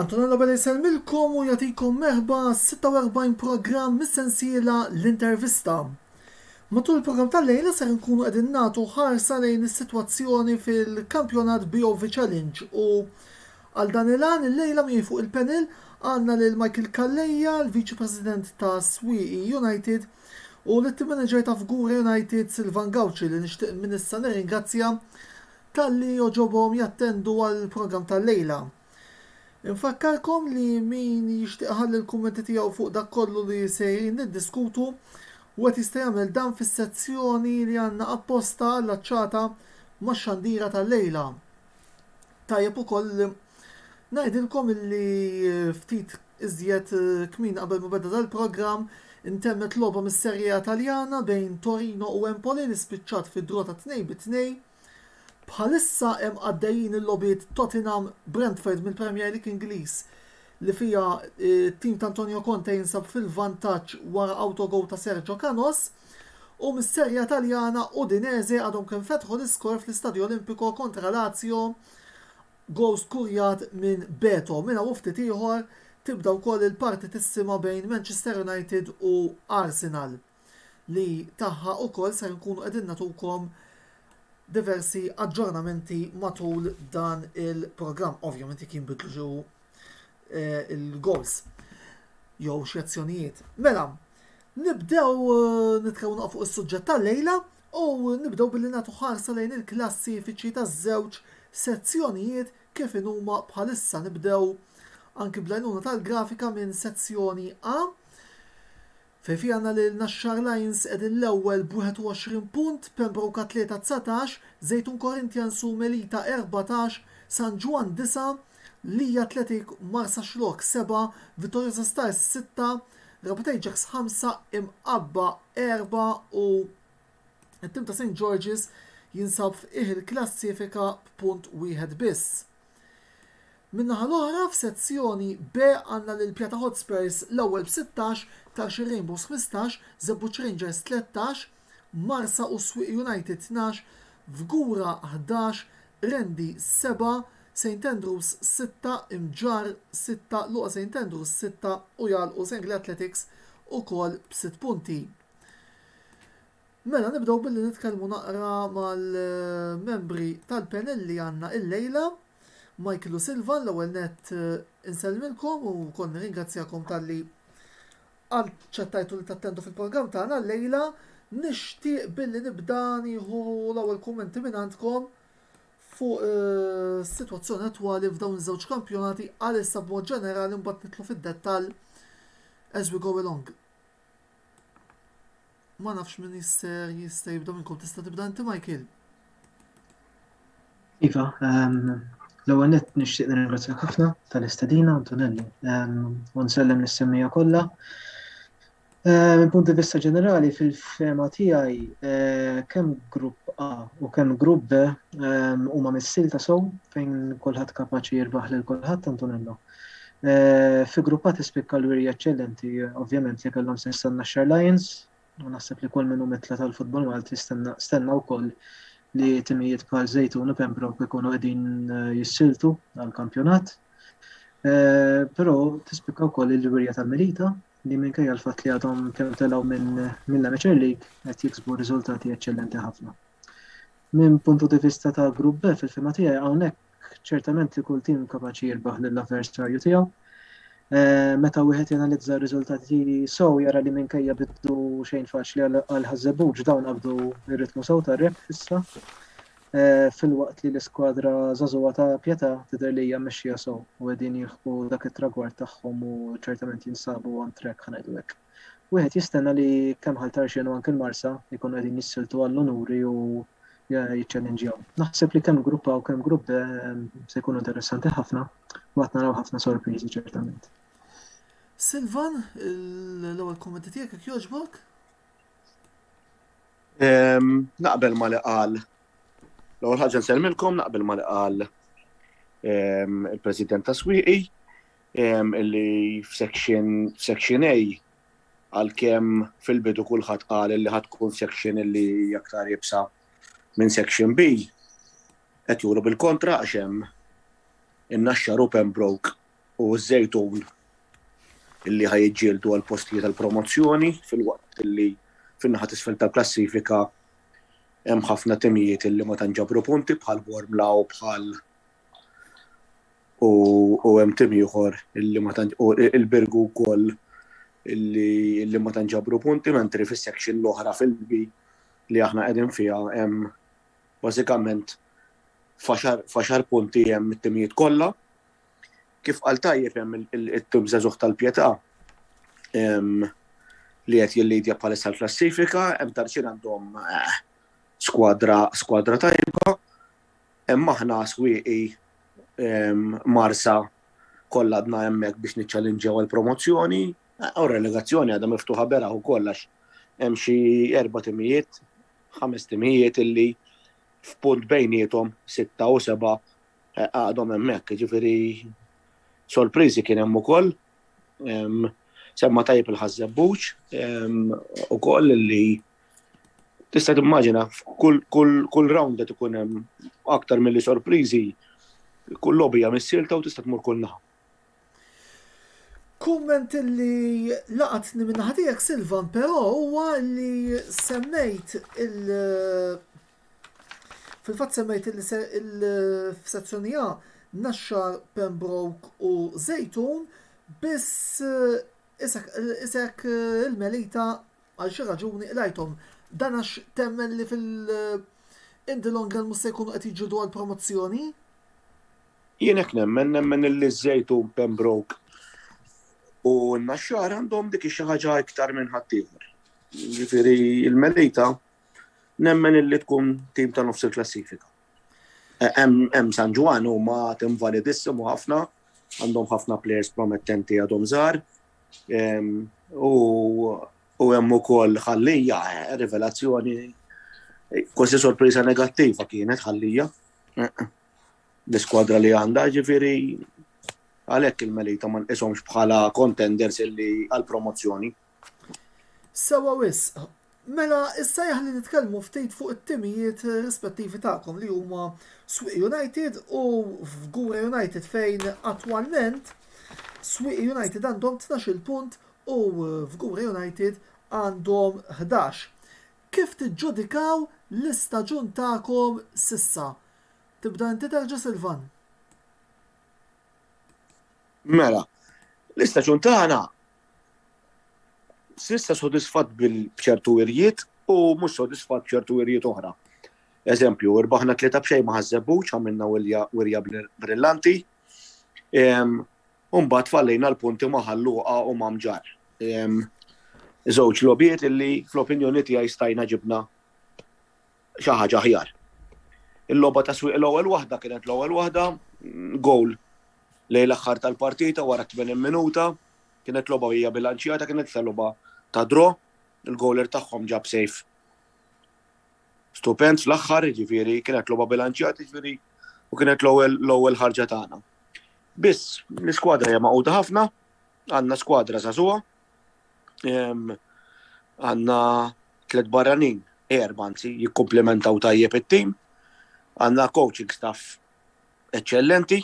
Antonella Bella jsellmilkom u jagħtikom merħba għas-46 programm mis-sensiela l-intervista. Matul il-programm tal-lejla ser nkunu qegħdin nagħtu ħarsa lejn is-sitwazzjoni fil-kampjonat BOV Challenge u għal dan il-għan il-lejla miegħi fuq il-panel għandna lil Michael Calleja, l-Viċi President ta' Swieqi United, u lit-Team Manager ta' Fgura United, Silvan Gauci li nixtieq minn issa nirringrazzja talli għoġobhom jattendu għall-programm tal-lejla. Infakkarkom li min jixtieq iħalli l-kummenti tiegħu fuq dak kollu li sejrin niddiskutu, wieħed jista' jagħmel dan fis-sezzjoni li għandna apposta allaċċata max-xandira tal-lejla. Tajjeb ukoll li Ngħidilkom illi ftit iżjed kmieni qabel ma beda dal-programm, intemmet logħba mis-Serie A Taljana bejn Torino u Empoli li spiċċat fi draw ta' tnejn bi tnejn. Bħalissa hemm għaddejjin il-logħbiet Tottenham, Brentford mill-Premier League Ingliż li fiha t-tim ta' Antonio Conte jinsab fil-vantaġġ wara autogowl ta' Sergio Canos u mis-Serie A Taljana Udinese għadhom kemm fetħu l-iskor fl-Istadio Olimpico kontra Lazio Ghost kurjat minn Beto. Minn hawn u ftit ieħor tibda wkoll il-partitissima bejn Manchester United u Arsenal li tagħha wkoll ser inkunu qegħdin nagħtukom diversi aġġornamenti matul dan il-programm. Ovvjament jekk jinbidlu xi eh, il-goals jew xi azzjonijiet. Mela, nibdew eh, nitkellmu fuq is-suġġett tal-lejla U nibdew billi nagħtu ħarsa lejn il-klassifiċi taż-żewġ sezzjonijiet kif inhuma bħalissa. Nibdew anki bl-għajnuna tal-grafika minn sezzjoni A fejn fiha għandna lil Naxxar Lions qegħdin l-ewwel b'21 punt, Pembroke Athleta 19, Żejtun Corinthians u Melita 14, San Ġwann 9, Lee Athletic Marsaxlokk 7, Vittoriosa Stars 6, Darbtejn ġaks ħamsa imqabba erba' u t-tim ta' St George's jinsab f'qiegħ il-klassifika b'punt wieħed biss. Min-naħa l-oħra f'Sezzjoni B għandna lil Pjata Hotspurs l-ewwel b'16, Tarxie Rainbows 15, Żebbuġ Rangers 13, Marsa u Swieq United tnax, Fgura ħdax, Rendi sebgħa, St Andrews sitta, Imġarr sitta, Luqa St Andrews sitta u jagħlqu Sengli Athletics ukoll b'sitt punti. Mela nibdew billi nitkellmu naqra mal-membri tal-panel li għandna illejla. Michael u Silvan l-ewwel nett insellmilkom u wkoll nirringrazzjakom talli Aċċettajtu li tattendu fil-programm tagħna llejla. Nixtieq billi nibda nieħu l-ewwel kummenti minn għandkom fuq is-sitwazzjoni attwali f'dawn iż-żewġ kampjonati għalissa b'mod ġenerali mbagħad nidħlu fid-dettall as we go along. Ma nafx min jisser jista' jibda minnkom tista' tibda inti Michael. Iva, ehm, l-ewwel nett nixtieq nirringrazzjak ħafna tal-istedina Antonelli. Ehm, u nsellem nis-semmija kollha. Ehm, il-punt di vista ġenerali fil-fema tiegħi eh, kemm grupp A u kemm grupp B huma missil ta' sow fejn kulħadd kapaċi jirbaħ lil kulħadd Antonello. Fi gruppati spikka l-wirja eċċellenti ovvjament li kellhom sens tan-Naxxar Lions u naħseb li kull min hu mitla tal-futbol Malti stenna wkoll li timijiet bħal Żejtun u Pembroke ikunu qegħdin eh, jissiltu għall-kampjonat. Eh, però tispikka wkoll il-wirja tal-Melita li minkejja l-fatt li għadhom kemm telgħu minn l-Amateur League qed jiksbu riżultati eċċellenti ħafna. Minn puntu di vista ta' grupp B fil-fema tiegħi hawnhekk Ċertament li kull tim kapaċi jirbaħ lill-avversarju tiegħu. Eh, meta wieħed janalizza r-riżultati sew jara li minkejja biddu xejn faċli għal ħażebuġ dawn qabdu r-ritmu sew tar-rep issa. Eh, fil-waqt li l-iskwadra żagħżugħa ta' Pjeta tidher li hija mexxija sew u qegħdin jilħqu dak it-tragward tagħhom u ċertament jinsabu on track ħanajdu hekk. Wieħed jistenna li kemm Ħal Tarxien u anke l-Marsa jkunu qegħdin jissiltu għall-unuri u jiċċellinġjaw. Naħseb li kemm Grupp A u kemm Grupp B se jkunu interessanti ħafna u għad naraw ħafna sorpriżi ċertament. Silvan, l-ewwel kummenti tiegħek jekk jogħġbok? Naqbel ma li qal. L-ewwel ħaġa nsellmilkom naqbel ma li qal il-President ta' Swieqi. Illi f'Section A, għalkemm fil-bidu kulħadd qal li ħadd tkun section illi aktar iebsa minn Section B, qed juru bil-kontra għax hemm in-Naxxar u Pembroke u ż-Żejtun illi ħa jiġġieldu għal postijiet għal promozzjoni filwaqt illi fin-naħa t'isfel tal-klassifika hemm ħafna timijiet illi ma tantx ġabru punti bħal Bormla u bħal u u hemm tim ieħor illi ma tantx u il-Birgu wkoll illi illi ma tantx ġabru punti mentri fis-section l-oħra fil-B li aħna qegħdin fiha hemm bażikament faxar faxar punti hemm it-timijiet kollha. Kif qal tajjeb hemm it-tim żagħżugħ tal-Pjetà li qed jillidja bħalissa l-klassifika, hemm tarċin għandhom eh, skwadra skwadra tajba Hemm aħna swieqi Marsa kollha għadna hemmhekk biex niċċallinġjaw għall-promozzjoni u r-relegazzjoni għadha miftuħa beraħ ukoll għax hemm xi erba' timijiet, ħames timijiet illi f'punt bejniethom sitta u seba' għadhom hemmhekk, jiġifieri sorpriżi kien hemm ukoll. Semma tajjeb il-Ħaż-Żebbuġ ukoll li Tista' timmaġina, kull round qed ikun hemm aktar milli sorpriżi, kull logħba hija missielta u tista' tmur kull naħa. Kumment li laqatni minn naħa tiegħek Silvan però huwa li semmejt il- fil-fatt semmejt il-sezzjoni A Naxxar, Pembroke u Żejtun biss isek il-Melita Għal xi raġuni qlajthom dan għax temmen li fil in the long run mhux se jkunu qed jiġġieldu għal promozzjoni? Jien hekk nemmen, nemmen illi ż-Żejtun, Pembroke u n-Naxxar għandhom dik xi ħaġa iktar minn ħaddieħor. Jiġifieri l-Melita nemmen illi tkun tim ta' nofs il-klassifika. Hemm San Ġwann huma tim validissim u ħafna, għandhom ħafna plejers promettenti għadhom żgħar, U hemm ukoll ħallija, eh, rivelazzjoni kważi sorpriża negattiva kienet ħallija. Eh, l-iskwadra li għandha ġifieri għalhekk il-Melita ma nqishomx bħala contenders illi għal promozzjoni. Sewa wisq, Mela issa jaħli nitkellmu ftit fuq it-timijiet rispettivi tagħkom li huma Swieqi United u Fgura United fejn attwalment Swieqi United għandhom 12 punt u Fgura United għandhom 11. Kif tiġġudikaw l-istaġun tagħkom s'issa? Tibda inti terġa' Silvan? Mela, l-istaġun tagħna Sissa sodisfatt bil-ċertu wirjiet u mhux sodisfatt b'ċertu wirjiet oħra. Eżempju, irbaħna tlieta b'xejn ma ħażżebbuċ għamilna wirja brillanti. Umbat fallejna l-punti ma ħalluqa u ma mġar. Żewġ lobiet illi fl-opinjoni tiegħi stajna ġibna xi ħaġa aħjar. Il-logħba ta' swieq l-ewwel waħda kienet l-ewwel waħda, gowl lejn l-aħħar tal-partita wara 80 minuta, kienet logħba hija bilanċjata, kienet sa logħba ta' dro, il-gowler tagħhom ġab sejf stupend fl-aħħar, ġifieri kienet logħba bilanċjata, ġifieri u kienet l-ewwel ħarġa tagħna. Biss, l-iskwadra hija maquda ħafna, għandna skwadra żagħżugħa, Għanna tlet barranin, erba anzi, jikkomplementaw tajjeb it-tim. Għanna coaching staff eccellenti,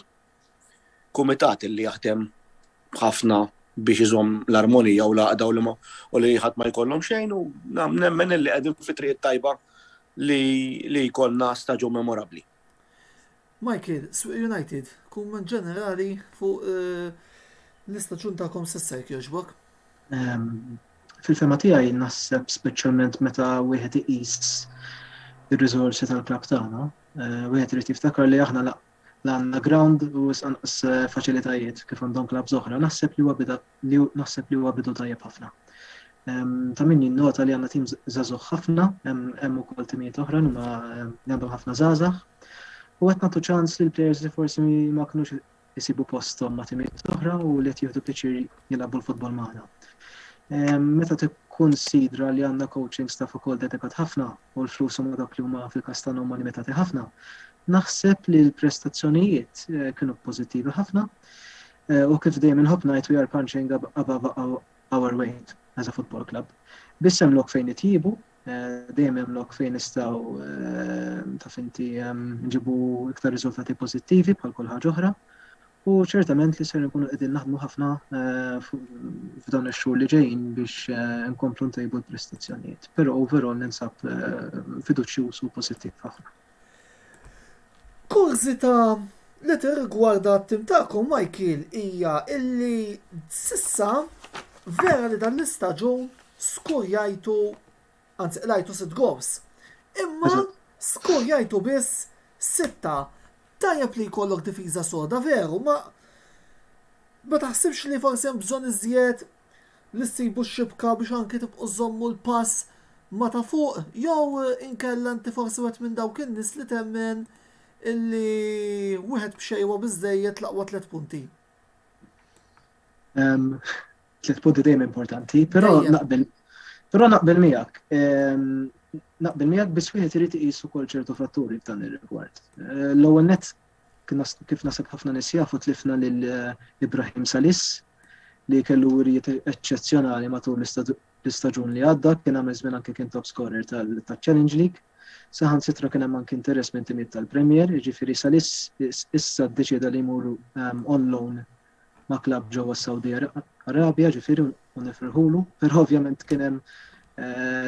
kumitat li jaħdem ħafna biex iżom l-armonija u laqda u li ma u li ħadd ma jkollhom xejn u nemmen li qegħdin fi triq tajba li jkollna staġun memorabbli. Michael, Swieq United, kumment ġenerali fuq l-istaġun tagħkom s'issa jekk jogħġbok. Fil-fehma tiegħi naħseb speċjalment meta wieħed iqis ir-riżorsi tal-klabb tagħna, wieħed irid jiftakar li aħna la għandna ground u wisq anqas faċilitajiet kif għandhom klabbs oħra. Naħseb li huwa beda li naħseb li huwa bidu tajjeb ħafna. Ta' min jinnota li għandna tim żagħżugħ ħafna, hemm ukoll timijiet oħra li ma għandhom ħafna żgħażagħ. U qed nagħtu ċans lil players li forsi ma kinux isibu posthom ma' timijiet oħra u li qed jieħdu pjaċir jilagħbu l-futbol magħna. Meta tkun sidra li għandna coaching staff ukoll dedikat ħafna u l-flus huma dak li huma fil-kastan huma limitati ħafna, naħseb li l-prestazzjonijiet eh, kienu pożittivi ħafna. U kif dejjem inħobb ngħid we are punching above our weight as a football club. Biss hemm lok fejn nitjiebu, dejjem hemm lok fejn nistgħu taf inti nġibu iktar riżultati pożittivi bħal kull ħaġa oħra. U ċertament li ser nkunu qegħdin naħdmu ħafna f'dawn ix-xhur li ġejjin biex nkomplu ntejbu l-prestazzjonijiet. Però overall ninsab fiduċjuż u pożittiv ħafna. Kurżità li tirrigwarda t-tim tagħkom Michael hija illi s'issa vera li dan l-istaġun skurjajtu anzi qlajtu sitt gowls. Imma skurjajtu biss sitta. Tajjeb li jkollok difiża soda veru ma ma taħsibx li forsi hemm bżonn iżjed li ssibu x-xibka biex anki tibqgħu żżommu l-pass ma' ta' fuq jew inkella inti forsi wieħed minn dawk in-nies li temmen illi wieħed b'xejn huwa biżżejjed l-aqwa tliet punti? Tliet punti dejjem importanti, però naqbel però naqbel miegħek. Naqbel miegħek biss wieħed irid iqis ukoll ċertu fatturi f'dan ir-rigward. L-ewwel nett Kif naħseb ħafna nies jafu tlifna lil Ibrahim Salis li kellu wirjiet eċċezzjonali matul l-istaġun li għadda, kien għamel żmien anke kien top scorer taċ-Challenge League. Saħansitra kien hemm anke interess minn timijiet tal-Premier, jiġifieri Salis issa ddeċieda li jmur on loan ma' klabb ġewwa s-Sawdi Arabja ġifieri u nifirħulu, però ovvjament kien hemm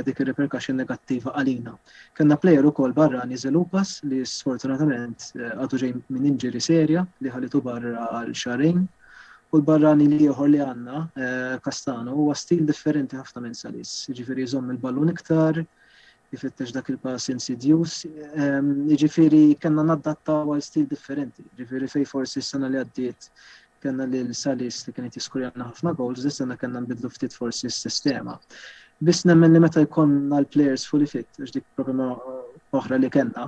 dik ir-repercussion negattiva għalina. Kellna plejer ukoll barrani Zeloupas li sfortunatament għadu ġej minn injury serja li ħalitu barra għal xahrejn u l-barrani l-ieħor li għandna, Castano, huwa stil differenti ħafna minn Salis, jiġifieri jżomm il-ballun iktar, ifittex dak il-pass insidjuż. Jiġifieri kellna naddattaw għal stil differenti. Jiġifieri fejn forsi s-sena li għaddiet kellna lil Salis li kien qed jiskurjana ħafna goals, dis sena kellna nbidlu ftit forsi s-sistema. Biss nemmen li meta jkollna l-players fully fit, għax dik problema oħra li kellna,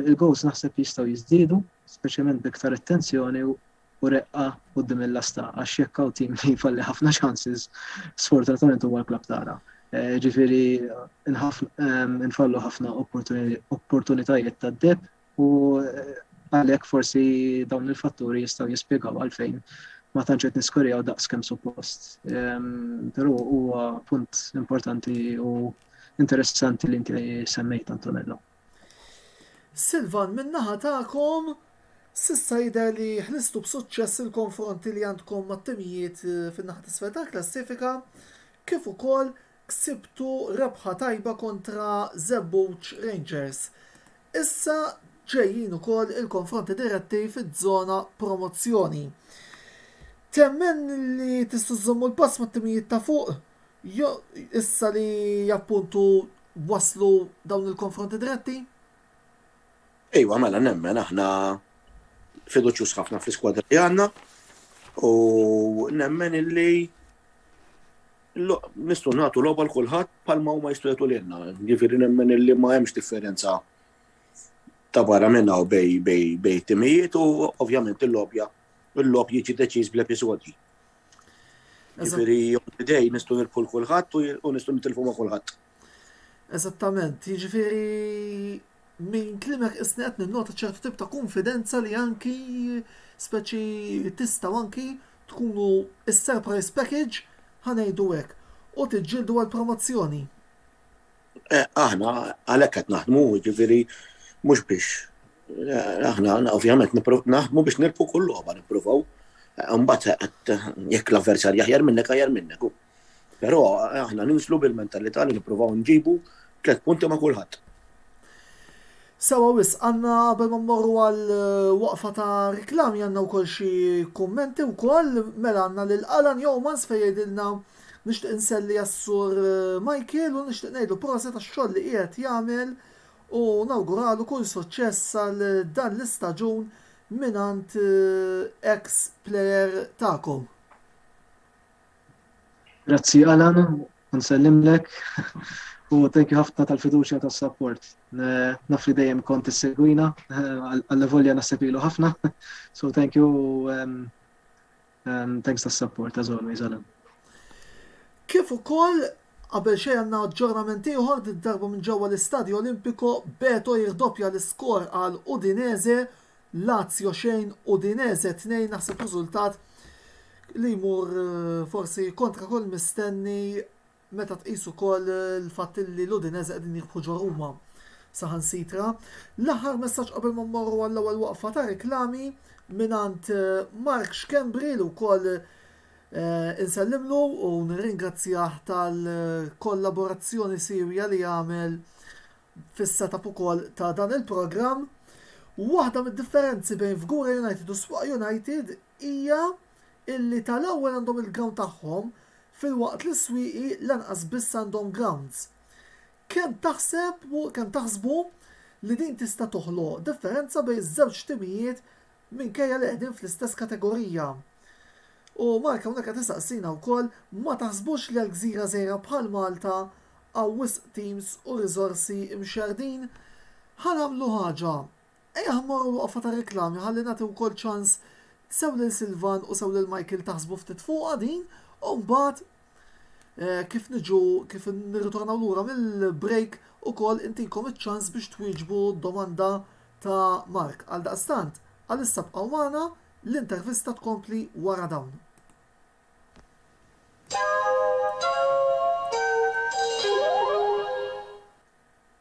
il-goals naħseb jistgħu jiżdiedu, speċjalment b'iktar attenzjoni u reqqa quddiem il-lasta għax jekk hawn tim li jfalli ħafna chances sfortunatament huwa l-klabb tagħna. Ġifieri nfallu ħafna opportunitajiet tad-deheb u għalhekk forsi dawn il-fatturi jistgħu jispjegaw għalfejn ma tantx qed niskorjaw daqs kemm suppost. Ehm, però huwa punt importanti u interessanti li inti semmejt Antonello. Silvan, min-naħa tagħkom, s'issa jidher li ħlistu b'suċċess il-konfronti li għandkom mat-timijiet fin-naħa t'isfel tal-klassifika, kif ukoll ksibtu rebħa tajba kontra Żebbuġ Rangers. Issa ġejjin ukoll il-konfronti diretti fiż-żona promozzjoni. Temmen li tistgħu żżommu l-pass mat-timijiet ta' fuq? Issa li appuntu waslu dawn il-konfronti diretti? Iva, mela nemmen aħna fiduċjuż ħafna fl-iskwadra li għandna u nemmen illi nistgħu nagħtu logħba l kulħadd bħalma huma jistgħu jagħtu lilna. Jiġifieri nemmen li ma hemmx differenza ta' barra minna u bej bej bej timijiet u ovvjament il-lobja il-lob jiġi deċiż bl-episodji. Jiġifieri on the day nistgħu nirbħu 'l kulħadd u nistgħu nitilfu ma' kulħadd. Eżattament, jiġifieri minn kliemek isni qed ninnota ċertu tip ta' kunfidenza li anki speċi tistgħu anki tkunu is-surprise package ħa ngħidu hekk u tiġġieldu għall-promozzjoni. Eh, aħna għalhekk qed naħdmu, jiġifieri mhux biex eh, aħna ovvjament naħdmu biex nirpu kull logħba nippruvaw. Eh, mbagħad qed jekk l-avversarja jaħjar minnek aħjar minnek. Però aħna ninslu bil-mentalità li nippruvaw nġibu tliet punti ma' kulħadd. Sewa wis, għanna qabel ma mmorru għal waqfa ta' reklami għanna u koll xie kummenti u koll mela għanna l-Alan Jomans fejjedilna jgħidilna Nixtieq nselli għas-Sur Michael u nixtieq ngħidlu proset għax-xogħol li qiegħed jagħmel u nawguralu kull suċċess għal dan l-istaġun mingħand ex player tagħkom. Grazzi Alan u nsellimlek u thank you ħafna tal-fiduċja tas-sapport. Naf li dejjem kont issegwina għall-volja naħseb ilu ħafna. So thank you Um, thanks tas support as always, Alan. Kif ukoll qabel xejn għandna aġġornament ieħor di darba minn ġewwa l-Istadju Olimpiko Beto jirdoppja l-iskor għal Udinese Lazio xejn Udinese tnejn naħseb riżultat li jmur eh, forsi kontra kull mistenni Meta tqis ukoll il-fatt li l-Udinese qegħdin jirbħu ġo Ruma saħansitra. L-aħħar messaġġ qabel ma mmorru għall-ewwel waqfa ta' reklami mingħand Mark Schembri li wkoll insellimlu u nirringrazzjah tal-kollaborazzjoni siewja li għamel fis-set-up ukoll ta' dan il-programm. Waħda mid-differenzi bejn Fgura United u Sfuq United hija illi tal-ewwel għandhom il-ground tagħhom filwaqt li s-swieqi lanqas biss għandhom grounds. Kemm taħseb kemm taħsbu li din tista' toħloq differenza bejn iż-żewġ timijiet minkejja li qegħdin fl-istess kategorija? U Mark hawnhekk qed isaqsina wkoll ma taħsbux li għal gżira żgħira bħal Malta hawn wisq teams u riżorsi mxerrdin? Ħa nagħmlu ħaġa, Ejjaħ mmorru waqfa ta' reklami ħalli nagħti wkoll ċans sew lil Silvan u sew lil Michael taħsbu ftit fuqha din u mbagħad eh, kif niġu kif nirritornaw lura mill-break ukoll intikom iċ-ċans biex twieġbu d-domanda ta' Mark. Għal daqstant, għalissa bqgħu magħna l-intervista tkompli wara dawn.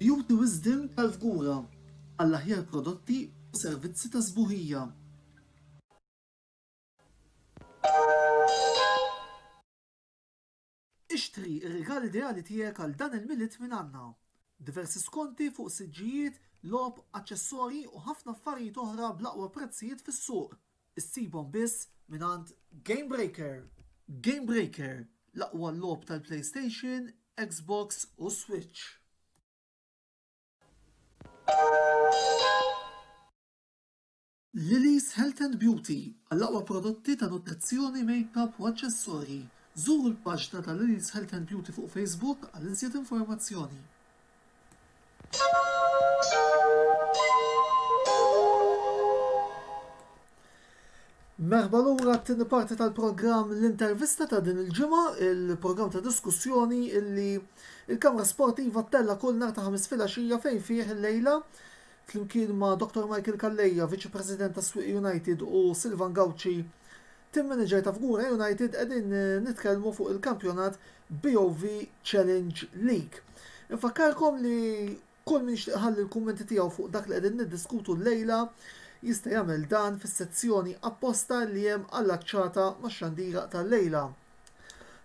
Beauty Wisdom tal-fgura għall-aħjar prodotti u servizzi ta' sbuħija. Ixtri r-rigal ideali tiegħek għal dan il-Milied minn għandna! Diversi skonti fuq siġġijiet, logħob, aċċessorji u ħafna affarijiet oħra bl-aqwa prezzijiet fis-suq. Issibhom biss mingħand Game Breaker! Game Breaker, l-aqwa logħob tal-PlayStation, Xbox u Switch! Lily's Health and Beauty, għall-aqwa prodotti ta' nutrizzjoni, makeup u aċċessorji, żuru l-paġna ta' Lily's Health and Beauty fuq Facebook għal iżjed informazzjoni. Merħba lura għat-tieni parti tal-programm L-Intervista ta' din il-ġimgħa, il-programm ta' diskussjoni illi il-Kamra Sportiva ttella' kull nhar ta' ħamis filgħaxija fejn fih il-lejla flimkien ma' Dr. Michael Calleja, Viċi President ta' Swieq United u Silvan Gauci, Tim manager ta' Fgura United qegħdin nitkellmu fuq il-kampjonat BOV Challenge League. Infakkarkom li kull min jixtieq iħalli l-kummenti tiegħu fuq dak li qegħdin niddiskutu llejla jista' jagħmel dan fis-sezzjoni apposta li hemm allaċċata max-xandira tal-lejla.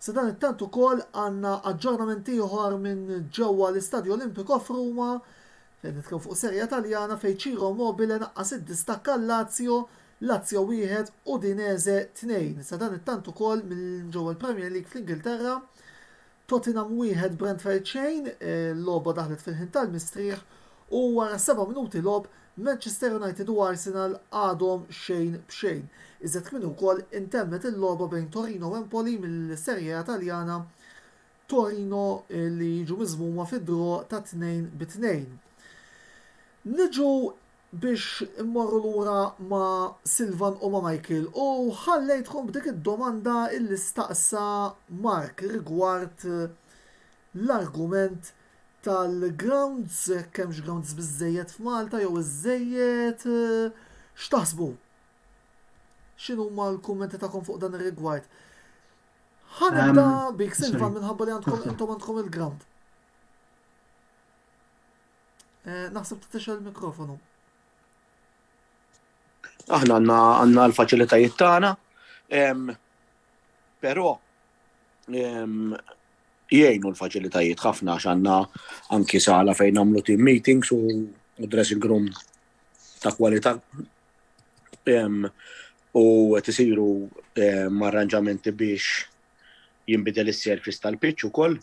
Sadanittant ukoll għandna aġġornament ieħor minn ġewwa l-Istadio Olimpico f'Ruma Qed nitkellmu fuq Serie A Taljana fejn Ciro Immobile naqqas id-distakk għal Lazio, Lazio wieħed, Udinese tnejn. Sadanittant ukoll minn ġewwa l-Premier League fl-Ingilterra, Tottenham wieħed, Brentford xejn, logħba daħlet fil-ħin tal-mistrieħ u wara seba' minuti logħob, Manchester United u Arsenal għadhom xejn b'xejn. Iżjed kmieni wkoll intemmet il-logħba bejn Torino u Empoli mill-Serie A Taljana Torino li jiġu miżmuma fi draw ta' tnejn bi tnejn. Niġu biex immorru lura ma' Silvan u ma' Michael u ħallejtkom b'dik id-domanda illi staqsa Mark rigward l-argument tal-grounds, jekk hemmx grounds biżżejjed f'Malta jew iżżejjed. X'taħsbu? X'inhuma l-kummenti tagħkom fuq dan ir-rigward? Ħa nibda bik Silva minħabba li għandkom intom għandkom il-ground. Eh, naħseb titixel il-mikrofonu. Aħna għanna għanna l-faċilitajiet tagħna, però jgħinu l-faċilitajiet ħafna għax għandna anki sala fejn nagħmlu team meetings u dressing room ta' kwalità u qed isiru arranġamenti biex jinbidel is-surface tal-pitch ukoll.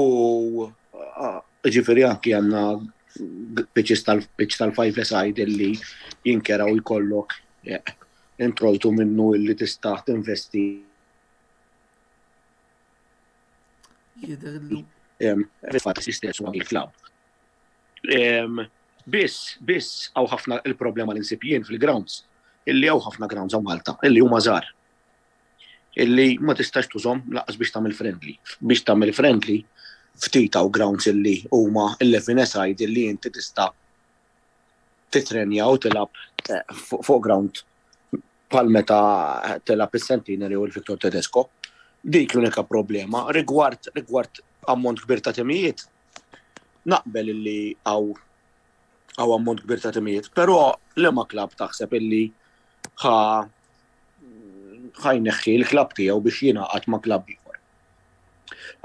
U ġifieri anki għandna pitches tal-pitch tal-five-a-side li jinkera u jkollok introjtu minnu li tista' tinvesti. Jidher li. Fil-fatt is-sistema tal-klabb. Biss, biss, għaw ħafna il-problema li nsib jien fil-grounds, illi għaw ħafna grounds għaw Malta, illi huma żgħar. Illi ma tistax tużom laqas biex tagħmel friendly. Biex tagħmel friendly, ftit għaw grounds illi huma 11 eside illi inti tista' titrenja u tilab eh, fuq ground pal meta tilab is-Centenary u l-Victor Tedesco. Dik l-unika problema rigward rigward ammont kbir ta' temijiet Naqbel illi għaw għaw ammont kbir ta' timijiet, pero li ma klab taħseb illi ħa ħajneħħi l-klab tiegħu biex jingħaqad ma' klab ieħor.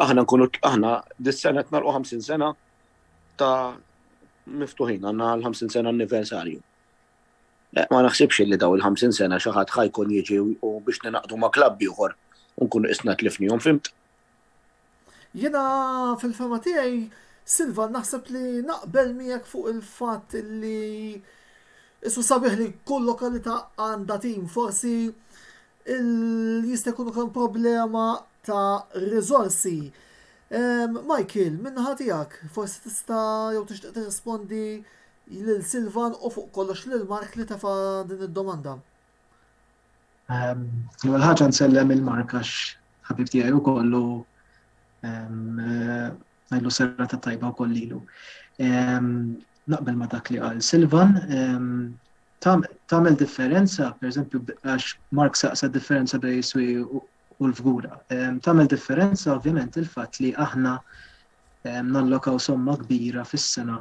Aħna nkunu aħna dis-sena qed narqu 50 sena ta' miftuħin għandna l-50 sena anniversarju. Eh, ma naħsibx li daw il-50 sena xi ħadd ħajkun jiġi u biex ninaqdu ma' klab ieħor u nkunu isna tlifnihom fimt. Jiena fil-fehma tiegħi, Silva, naħseb li naqbel miegħek fuq il-fatt li issu sabiħ li kull lokalità għandha tim. Forsi jista' jkun ukoll problema ta' riżorsi. Michael, min-naħa tiegħek, forsi tista' jew tixtieq tirrispondi lil Silvan u fuq kollox lil Mark li tefa' din id-domanda. Ehm, l-ewwel ħaġa nsellem il-marka ħabib tiegħi wkoll u ehm, eh, ngħidlu serra ta' tajba wkoll lilu. Ehm, naqbel ma' dak li qal Silvan, tagħmel differenza, pereżempju għax Mark saqsa differenza bej iswi u l-fgura. Tagħmel differenza ovvjament il-fatt li aħna nallokaw somma kbira fis-sena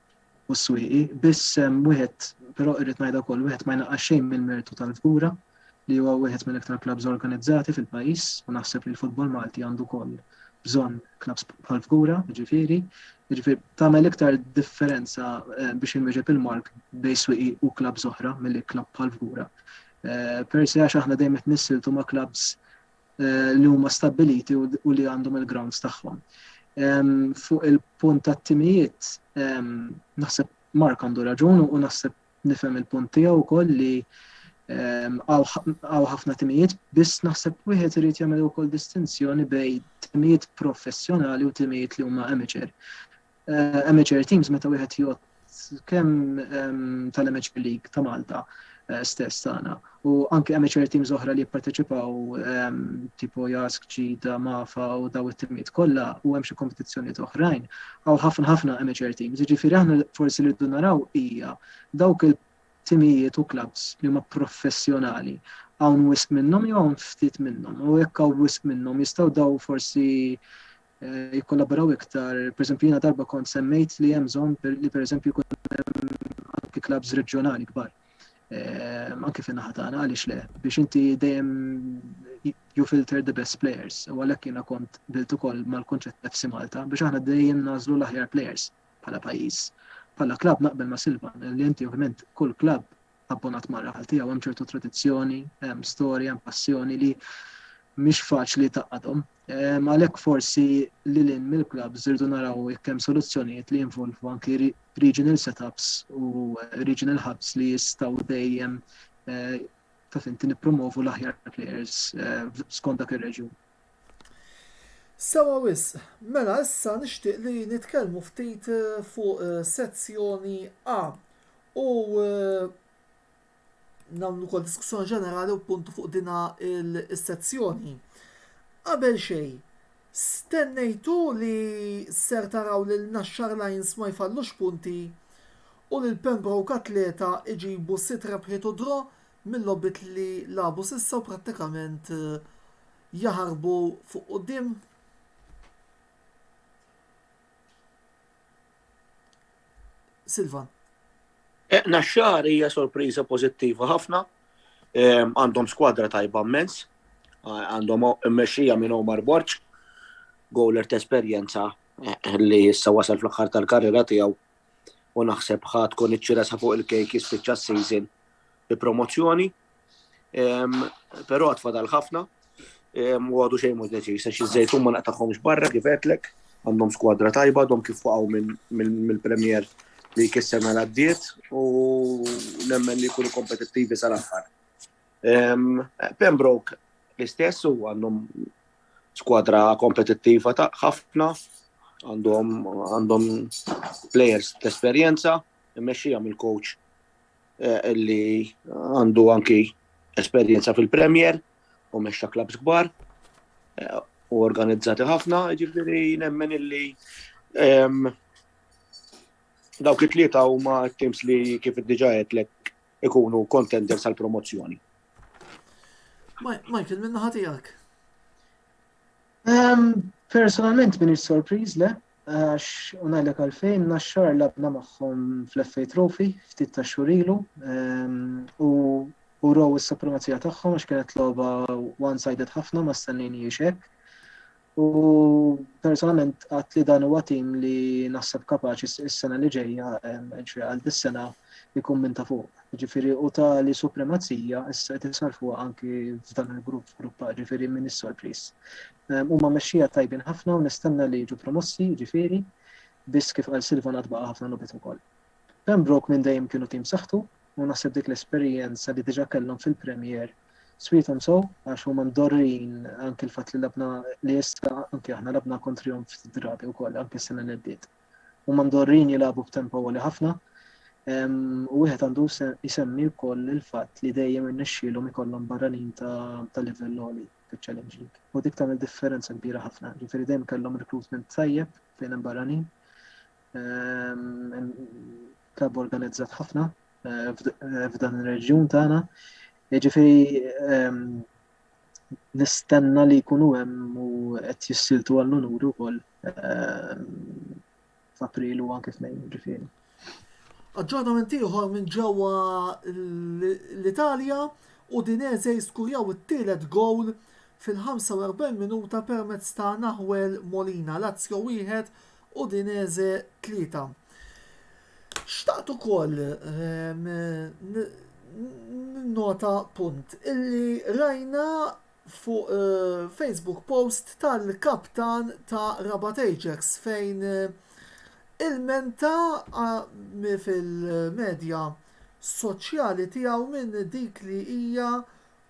u s-swieqi, biss wieħed, però irrid ngħidha wkoll, wieħed ma jnaqqas xejn mill-mertu tal-Fgura li huwa wieħed mill-iktar klabbs organizzati fil-pajjiż u naħseb li l-futbol Malti għandu wkoll bżonn klabbs bħall-Fgura, jiġifieri, jiġifieri tagħmel iktar differenza eh, biex inwieġeb il-mark bejn swieqi u klabbs oħra milli klabb bħall-Fgura. Eh, Persi għax aħna dejjem qed nissiltu ma' klabbs li huma stabbiliti u li għandhom il-grounds tagħhom. Fuq il-punt tat-timijiet, naħseb Mark għandu raġun u naħseb nifhem il-punt tiegħu wkoll li għaw ħafna timijiet, biss naħseb wieħed irid jagħmel ukoll distinzjoni bejn timijiet professjonali u timijiet li huma amateur. eh, amateur teams meta wieħed jgħod kemm ehm, tal-amateur league ta' Malta eh, stess tagħna u anke amateur teams oħra li jipparteċipaw ehm, tipo Jask, Ġida, Mafa u daw it-timiet kollha u hemm xi kompetizzjonijiet oħrajn għaw ħafna ħafna amateur teams. Jiġifieri aħna forsi li rridu naraw hija dawk il-timijiet u clubs li huma professjonali hawn wisq minnhom jew hawn ftit minnhom u jekk hawn wisq minnhom jistgħu daw forsi jikkollaboraw iktar. Pereżempju jiena darba kont semmejt li hemm bżonn li pereżempju jkun hemm anki klabs reġjonali kbar. Ehm, anki fin-naħa tagħna għaliex le biex inti dejjem you filter the best players u għalhekk jiena kont bilt ukoll mal-kunċett FC Malta biex aħna dejjem nażlu l-aħjar players bħala pajjiż. Bħala klab naqbel ma' Silvan li inti ovvjament kull klab abbonat mar-raħal tiegħu hemm ċertu tradizzjoni, hemm storja, hemm passjoni li mhix faċli taqadhom. Ehm, għalhekk forsi li lin mill-klabb żirdu naraw jekk hemm soluzzjonijiet li jinvolvu anki regional setups u eh, regional hubs li jistgħu dejjem eh, ta' finti nippromovu l-aħjar players eh, skont dak ir-reġjun. Sewa wisq, mela issa nixtieq li nitkellmu ftit fuq sezzjoni A u nagħmlu wkoll diskussjoni ġenerali u puntu fuq dina il-sezzjoni. Qabel xejn, stennejtu li ser taraw lil Naxxar Lions ma jfallux punti u lil Pembroke Athleta jġibu sitt rebħiet u draw? mil-logħbiet li lagħbu s'issa u prattikament jaħarbu fuq quddiem. Silvan. Eh, Naxxar hija sorpriża pożittiva ħafna. Ehm, għandhom skwadra tajba mmens, għandhom mmexxija minn Omar Borċ, gowler ta' esperjenza eh, li issa wasal fl-aħħar tal-karriera tiegħu u naħseb ħadd tkun iċċiresa fuq il-kejk jispiċċa s-season bi promozzjoni. Però tfadal ħafna u għadu xejn mhux deċiż għax iż-żejtun ma naqtagħhomx barra kif għedlek għandhom skwadra tajba għadhom kif waqgħu mill-Premier li kisser ma għaddiet u nemmen li jkunu kompetittivi sal-aħħar. Pembroke l-istess u għandhom skwadra kompetittiva ta' ħafna għandhom players t-esperienza, immexxija mill-coach eh, li għandu anki esperjenza fil-Premier u meċċa klabs kbar eh, u organizzati ħafna, ġifiri nemmen illi ehm, dawk it-tlieta huma t-teams li kif diġa għetlek ikunu contenders għal promozzjoni. Michael, minna ħatijak? Ehm, personalment minix sorpriz le, għax unajlek għalfejn naxxar labna maħħom fl-FA Trophy ftit ta' xurilu ehm, u u row is-supremazija tagħhom għax kienet logħba one-sided ħafna ma stennejni hekk. U personalment għat li dan huwa tim li naħseb kapaċi s-sena li ġejja ehm, għal dis-sena jkun minn ta' fuq. Jiġifieri u tali supremazija issa qed isarrfuha anki f'dan il-grupp, f'grupp A, jiġifieri min is-sorpriż. Huma mexxija tajbin ħafna u nistenna li jiġu promossi, jiġifieri, biss kif qal Silvan għad baqa' ħafna logħbiet ukoll. Pembroke minn dejjem kienu tim b'saħħtu u naħseb dik l-esperjenza li diġà kellhom fil-Premier swiethom sew għax huma mdorrijin anki l-fatt li labna li issa anki aħna labna kontrihom ftit drabi wkoll anki s-sena li għaddiet. Huma mdorrin jilagħbu b'tempo għoli ħafna u wieħed għandu jsemmi wkoll il-fatt li dejjem irnexxielhom ikollhom barranin ta' livell għoli fiċ-Challenge League. U dik tagħmel differenza kbira ħafna, ġifieri dejjem kellhom recruitment tajjeb fejn hemm barranin. Klabb organizzat ħafna eh, eh, f'dan ir-reġjun tagħna. Ġifieri nistenna li jkunu hemm u qed jissiltu għall-unuri wkoll eh, f'April u anke f'Mejju ġifieri. Aġġornament ieħor minn ġewwa l-Italja u Dinese jiskurjaw it-tielet gowl fil-45 minuta permezz ta' Nahuel Molina. Lazio wieħed Udinese 3. Xtaqt ukoll ehm, nota punt illi rajna fuq eh, Facebook post tal-kaptan ta' Rabat Ajax fejn eh, il-menta eh, fil-medja soċjali tiegħu minn dik li hija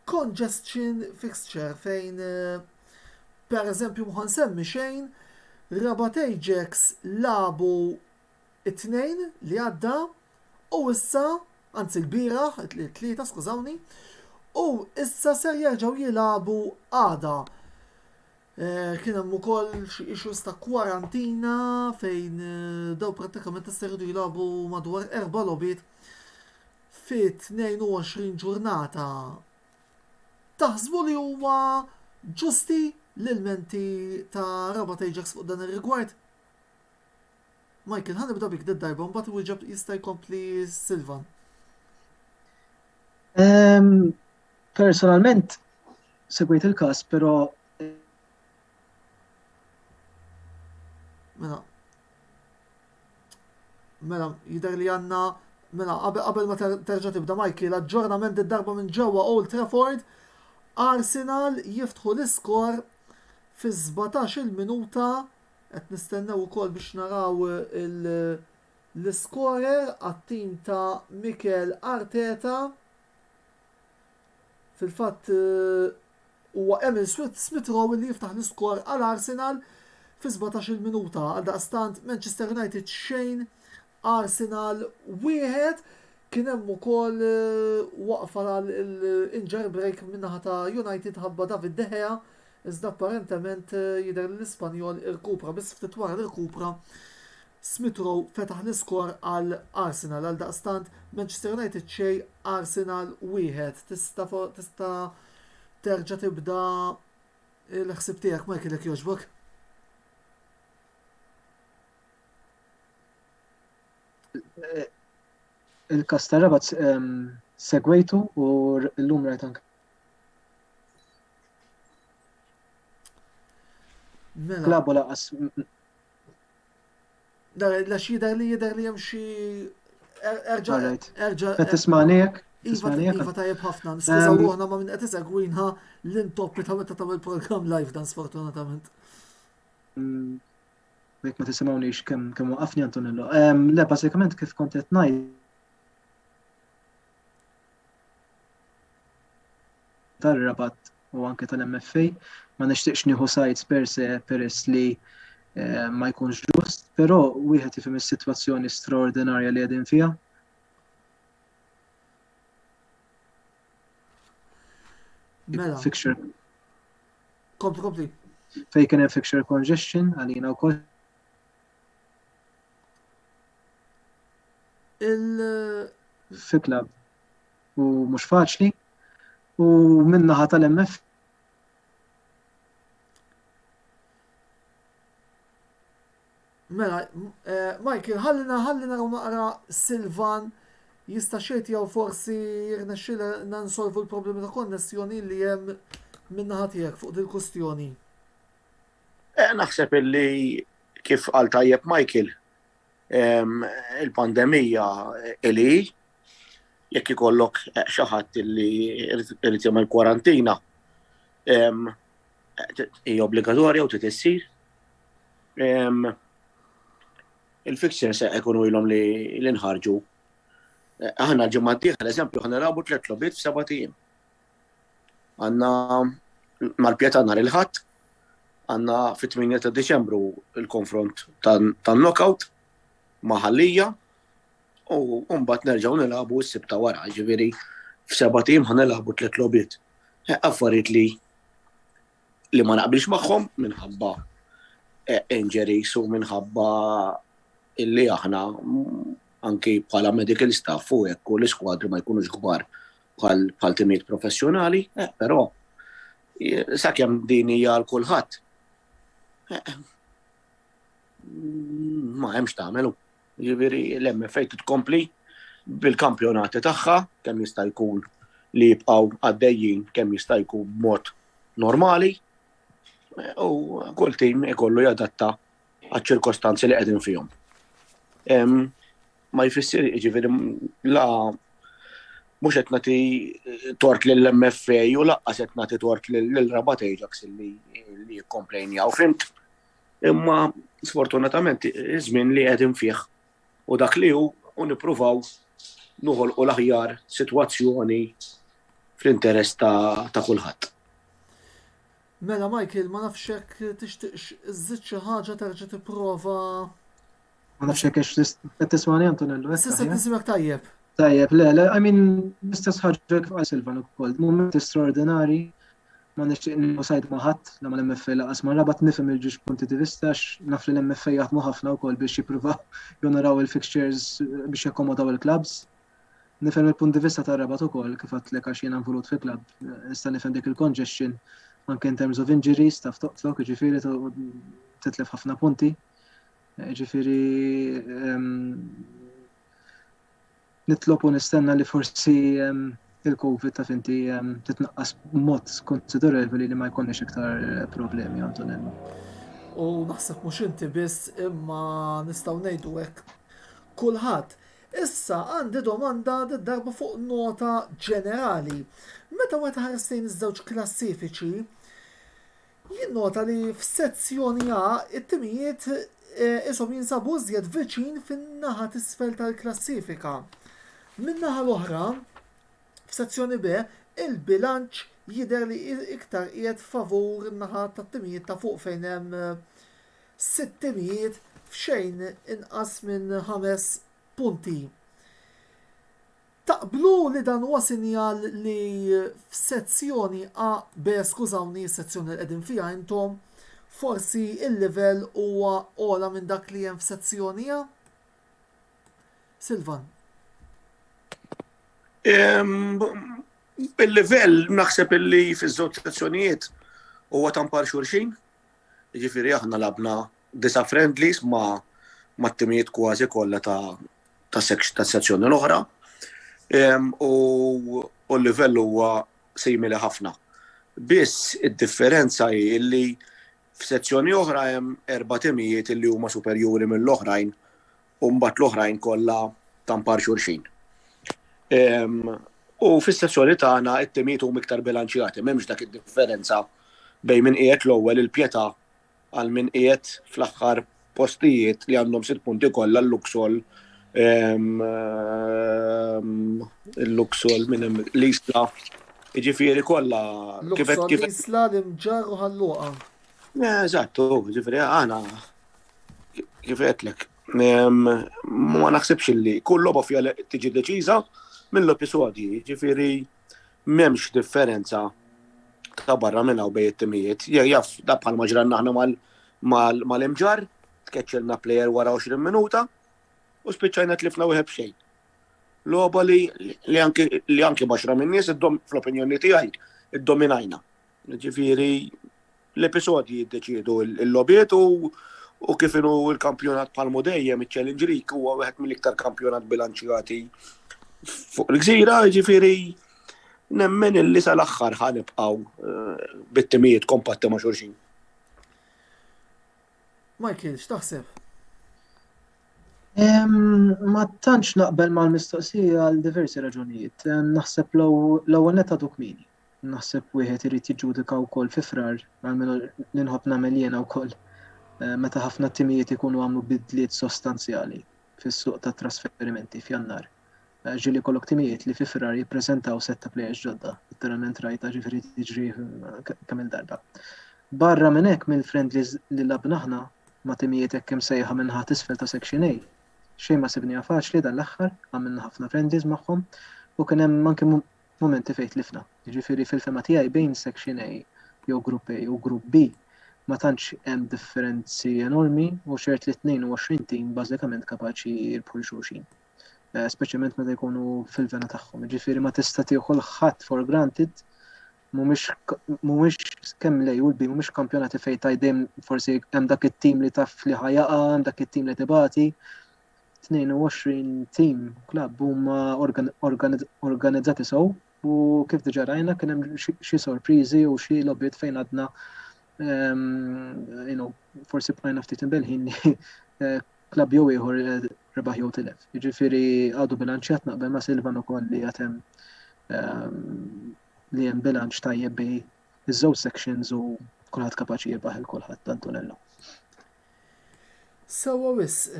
congestion fixture fejn per eżempju mħa nsemmi xejn Rabat Ajax lagħbu t-Tnejn li għadda u issa anzi lbieraħ it-Tlieta skużawni u issa ser jerġgħu jilagħbu għada. Kien hemm ukoll xi issues ta' kwarantina fejn daw prattikament issa jridu jilagħbu madwar erba' logħbiet fit-22 ġurnata, taħsbu li huma ġusti l-ilmenti ta' Rabat Ajax fuq dan ir-rigward? Michael, ħa nibda bik darba mbagħad iwieġeb jista' jkompli Silvan. Ehm, personalment segwejt il-każ, però Mela, Mela, jidher li għandna mela qabel ma terġa' tibda Michael, aġġornament id-darba minn ġewwa Old Trafford, Arsenal jiftħu l-iskor fi 17 il-minuta qed nistennew ukoll biex naraw l-iskorer għat-tim ta' Mikel Arteta. Fil-fatt huwa Emil Smith Rowe li jiftaħ l-iskor għal Arsenal fi 17-il minuta. Għaldaqstant Manchester United xejn Arsenal wieħed kien hemm ukoll waqfa għal injury break min-naħa ta' United ħabba David De Gea iżda apparentement jidher li l-Ispanjol irkupra biss ftit wara li rkupra Smith Rowe fetaħ l-iskor għal Arsenal għaldaqstant Manchester United xejn Arsenal wieħed. Tista' tista' terġa' tibda l-ħsieb tiegħek Michael jekk jogħġbok. Il-kas ta' rabat ehm, segwejtu u l-lum rajt anke Mela. Klabu laqas Nara, għax jider li jider li hemm xi. Er- Erġa' Alright. erġa' Qed tismani hekk? Iva, Tismani hekk? iva tajjeb ħafna. Skuża Ehm. ruħna ma' minn qed isegwinha l-intoppi ta' meta tagħmel programm live dan sfortunatament. Mm, Jekk ma tisimgħunix kemm kemm waqafni Antonello. Ehm, Le, bażikament kif kont qed ngħid. Tar-rabat u anke tal-MFA. Ma nixtieqx nieħu sides per se peress li eh, ma jkunx ġust, però wieħed ifhem is-sitwazzjoni straordinarja li qegħdin fiha. Mela. Fixture. Kompli, kompli. Fej kien hemm fixture congestion għalina wkoll. Il. Fi club. u mhux faċli u min-naħa tal-MF Mela, eh, Michael, ħallina ħallina u naqra Silvan jista' xejt jew forsi jirnexxila nansolvu l-problemi ta' konnessjoni li hemm minna ħatijek fuq dil-kustjoni. Eh, naħseb illi kif għal tajjeb Michael, Il-pandemija li jekk ikollok xi ħadd li irid jagħmel kwarantina hija obbligatorja u titissir. Il-fixture se jkunu ilhom li l-inħarġu. Aħna ġimgħa d-dieħla, eżempju, ħanilgħabu tliet logħbiet f'seba' tim. Għanna mal-pjeta nar il-ħadd, għanna fit-8 ta' Deċembru il-konfront tan-knockout ma' ħallija u mbagħad nerġgħu nilagħbu s-sibta wara, ġifieri f'seba' tim ħa nilagħbu tliet logħbiet. Affarijiet li li ma naqbilx magħhom minħabba e, injuries u minħabba illi aħna anki bħala medical staff u hekk u l-iskwadri ma jkunux kbar bħal timijiet professjonali, eh, però sakemm din hija għal kulħadd. Eh, ma hemmx tagħmelu. Jiġifieri l-MFA titkompli bil-kampjonati tagħha kemm jista' jkun li jibqgħu għaddejjin kemm jista' jkun b'mod normali eh, u kull tim ikollu jadatta għaċ-ċirkostanzi li qegħdin fihom. ma jfissir jiġifieri la mhux qed nagħti tort lill-MFA u laqqas qed nagħti tort lil Rabat Ajax li jikkomplejnjaw fimt. Imma sfortunatament iż-żmien li qegħdin fih u dak li hu u nippruvaw noħolqu l-aħjar sitwazzjoni fl-interess ta' kulħadd. Mela Michael ma nafx jekk tixtieqx iżżid xi ħaġa terġa' tipprova Ma nafx jekk qed tismani Antonello. Eh, Sissa tisimek tajjeb. Tajjeb, le, le, I mean, l-istess ħaġa kif għal Silvan ukoll, mument straordinari, ma nixtieq nusajt ma ħadd la ma l-MFA laqas ma rabat nifhem il-ġiex punti di vista naf li l-MFA jaħdmu ħafna wkoll biex jippruvaw jonoraw il-fixtures biex jakkomodaw il-clubs. Nifhem il-punt di vista ta' rabat ukoll kif għatlek għax jiena nvulut fi club, nista' nifhem dik il-congestion anke in terms of injuries, taf toqtlok, ġifieri titlef ħafna punti. Ġifiri, nitlob u nistenna li forsi il-Covid ta' finti titnaqqas mod konsiderevoli li ma jkonniex iktar eh, problemi, Antonella. U naħseb mhux inti biss imma nistgħu ngħidu hekk kulħadd. Issa għandi domanda darba fuq nota ġenerali. Meta wieħed ħares lejn iż-żewġ klassifiċi, Jinnota li f'Sezzjoni A t-timijiet qishom jinsabu iżjed viċin fin-naħa t'isfel tal-klassifika. Min-naħa l-oħra, f'Sezzjoni B, il-bilanċ jidher li iktar qiegħed favur in-naħa tat-timijiet ta' fuq fejn hemm sitt timijiet f'xejn inqas minn ħames punti. Taqblu li dan huwa sinjal li f'sezzjoni A, B, skużawni, is-sezzjoni li qegħdin fiha intom, forsi l-livell huwa ogħla minn dak li hemm f'sezzjoni A? Silvan. Il-livell naħseb illi fiż-żewġ sezzjonijiet huwa tampar xulxin. Jiġifieri aħna labna disa' friendlies ma' mat-timijiet kważi kollha ta' tas-sezzjoni l-oħra u l-livell huwa simili ħafna. Biss id-differenza hi li f'sezzjoni oħra hemm erba' timijiet li huma superjuri mill-oħrajn u mbagħad l-oħrajn kollha tampar xulxin. U fis-sezzjoni tagħna t-timijiet huma iktar bilanċjati, m'hemmx dak id-differenza bejn min qiegħed l-ewwel, il-Pietà, għal min qiegħed fl-aħħar postijiet li għandhom sitt punti kollha l-Luxol il-Luxol minn l-Isla. Ġifieri kollha kif kif l-Isla l-imġar u ħalluqa. Eh, eżattu, ġifieri għana kif qedlek. Ma naħsibx li kull logħba fiha tiġi deċiża mill-episodji, ġifieri M'hemmx differenza ta' barra minn hawn bejn it-timijiet. Jaf da bħal ma ġranna aħna mal-imġar, tkeċċilna plejer wara 20 minuta u spiċċajna tlifna wieħed b'xejn. Loba li anki baxra minn nies fl-opinjoni tiegħi iddominajna. Ġifieri L-episodji jiddeċiedu l-logħbiet u kif inhu l-kampjonat bħalmu dejjem iċ-Challenge League huwa wieħed mill-iktar kampjonat bilanċjati fuq il-gżira, jiġifieri nemmen illi sal-aħħar ħa nibqgħu eh, bit-timijiet kompatti ma' xulxin. Michael, x'taħseb? Ma tantx naqbel mal-mistoqsija għal diversi raġunijiet. Naħseb l-ewwel netta dukmini. naħseb wieħed irid jiġġudika wkoll fi Frar, għalmenu li nħobb nagħmel jiena wkoll, meta ħafna timijiet ikunu għamlu bidliet sostanzjali fis-suq tat-trasferimenti f'Jannar. Ġieli jkollok timijiet li fi Frar jippreżentaw sett ta' plejers ġodda, literalment rajtha ġifieri tiġri kemm-il darba. Barra minn hekk mill-friendlies li lagħbna aħna ma' timijiet hekk imsejħa min-naħa t'isfel ta' Section A, xejn ma sibniha faċli dan l-aħħar, għamilna ħafna friendlies magħhom u kien hemm anke mumenti fejn tlifna. Jiġifieri fil-fehma tiegħi bejn Section A jew Grupp A u Grupp B ma tantx hemm differenzi enormi u ċert li 22 tim bażikament kapaċi jirbħu lil xulxin. Speċjalment meta jkunu fil-vena tagħhom. Jiġifieri ma tista' tieħu kulħadd for granted mhumiex kemm lej u l-bi mhumiex kampjonati fejn tajdem forsi hemm dak it-tim li taf li ħajaqa, hemm dak it-tim li tibati, 22 tim u klabb huma organizzati sew u kif diġà rajna kien hemm xi sorpriżi u xi lobiet fejn għadna ehm, forsi bqajna ftit imbelħin li eh, klabb jew ieħor eh, rebaħ jew tilef. Jiġifieri għadu bilanċjat naqbel ma' Silvan ukoll li qed hemm ehm, li hemm bilanċ tajjeb bej iż-żewġ sections u kulħadd kapaċi jibbaħ il kulħadd Antonello. Sewwa wisq.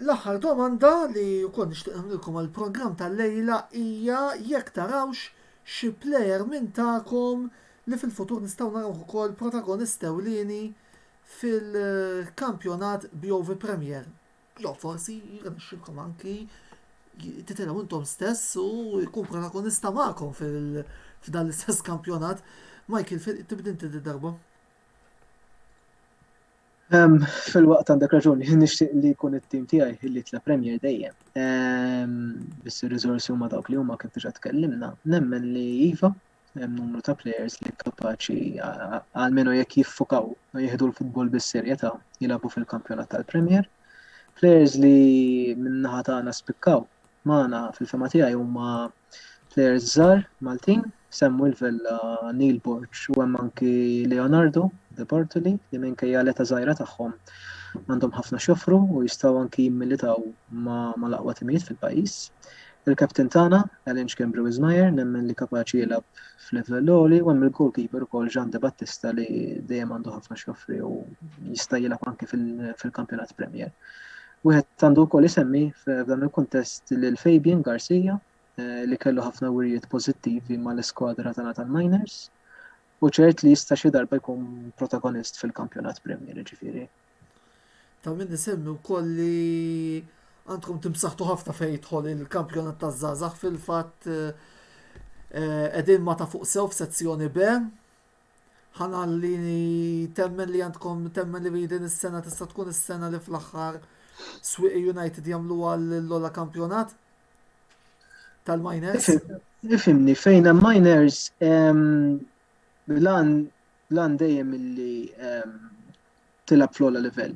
L-aħħar domanda li wkoll nixtieq nagħmlilkom għall-programm tal-lejla hija jekk tarawx xi plejer minn tagħkom li fil-futur nistgħu narawh ukoll protagonist ewlieni fil-kampjonat BOV Premier. Jew forsi jirnexxilkom anki titilgħu intom stess u jkun protagonista magħkom f'dan l-istess kampjonat. Michael, tibda inti dil-darba. Ehm, fil-waqt għandek raġun, jien nixtieq li jkun it-tim tiegħi illi tla Premier dejjem. Ehm, biss ir-riżorsi huma dawk li huma kif diġà tkellimna, nemmen li iva hemm numru ta' players li kapaċi għalmenu jekk jiffukaw u jieħdu l-futbol bis-serjetà jilagħbu fil-kampjonat tal-Premier. Players li minnaħa tagħna spikkaw magħna fil-fehma tiegħi huma players żgħar Maltin, Samuel Vella, Neil Borg u hemm anki Leonardo De Bartoli li minkejja l-età żgħira tagħhom għandhom ħafna x'joffru u jistgħu anki jimmilitaw mal-aqwa timijiet fil-pajjiż. Il-captain tagħna, Alan Xkembri Wismayer, nemmen li kapaċi jilgħab f'livell għoli u hemm il-goalkeeper ukoll Jean De Battista li dejjem għandu ħafna x'joffri u jista' jilgħab anki fil-kampjonat Premier. Wieħed għandu wkoll isemmi f'dan il-kuntest lil Fabian Garcia li kellu ħafna wirjiet pożittivi mal-iskwadra tagħna tal-Miners u ċert li jista' xi darba jkun protagonist fil-kampjonat Premier ġifieri. Ta' min isemmi wkoll li għandkom timsaħtu ħafna fejn jidħol il-kampjonat taż-żgħażagħ fil-fatt qegħdin ma ta' fuq sew f'sezzjoni B ħanalli temmen li għandkom temmen li din is-sena tista' tkun is-sena li fl-aħħar Swieqi United jagħmlu għall ola kampjonat tal-miners. Ifimni fejn hemm miners lan lan dejjem illi tilab fl-ola livell.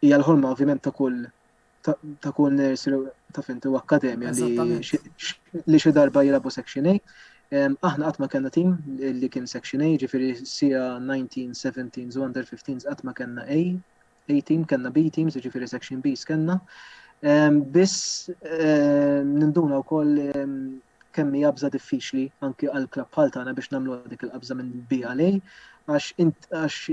Hija l-ħolma ovvjament ta' kull ta' kull nurse ta' finti u akkademja li xi darba jilabu Section A. Aħna qatt ma kellna tim li kien Section A, ġifieri sija 19, 17 u under 15 qatt ma kellna A, A team, kellna B teams, ġifieri Section B skenna. Biss ninduna wkoll kemm hija bża diffiċli anki għal klabb bħal tagħna biex nagħmlu dik il-qabża minn B għal A għax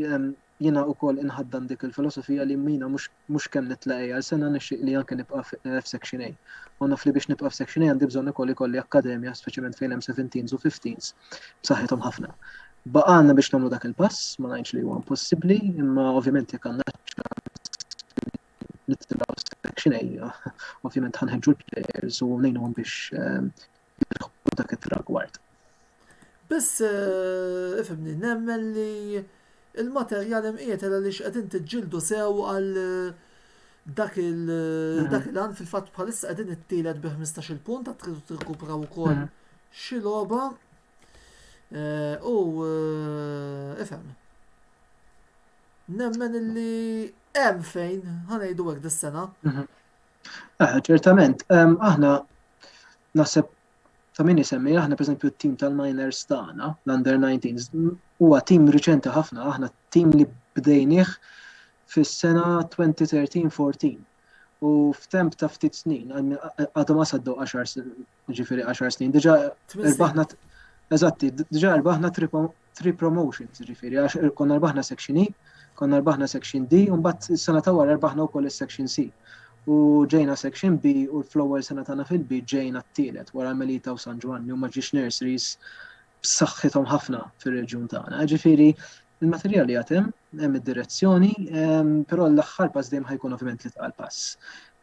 Jiena ukoll inħaddan dik il-filosofija li jiena mhux kemm nitlaq A għal sena nixtieq li anke nibqa' f'Section A. U naf li biex nibqa' f'Section A għandi bżonn ukoll ikolli akkademja speċjalment fejn hemm seventeens u fifteens b'saħħithom ħafna. Baqgħalna biex nagħmlu dak il-pass, ma ngħidx li huwa impossibbli, imma ovvjament jekk għandna ċ-ċans li nitilgħu Section A, ovvjament ħa nħeġġu l-players u ngħinuhom biex jilħqu dak it-tragward. Biss, ifhimni, nemmen li l-materjal hemm qiegħed għaliex qegħdin tiġġieldu sew għal dak il-għan fil-fatt bħalissa qegħdin it-tielet bi 15-il punt għad tridu tirkupraw ukoll mm. xi logħba eh, u eh, ifhem. Nemmen illi hemm fejn ħanejdu hekk dis-sena. Mhm. Eh, ċertament, aħna naħseb ta' min isemmi aħna pereżempju t-tim tal-miners tagħna, l-under 19s, huwa tim riċenti ħafna, aħna tim li bdejnieh fis-sena 2013-14. U f'temp ta' ftit snin, għadhom għasaddu 10 Ġifiri 10 snin. Diġa rbaħna eżatti, diġa rbaħna tri promotions, ġifiri għax er, konna rbaħna section E, konna rbaħna section D, un bat sena ta' wara rbaħna u koll section C. U ġejna section B u l-flower sena tagħna fil-B ġejna t-tielet wara Melita u San Ġwanni u maġġiex nurseries b'saħħithom ħafna fir-reġjun tagħna. Jiġifieri il-materjal li għatem, hemm id-direzzjoni, però l-aħħar pass dejjem ħajkun ovvjament li tqal pass.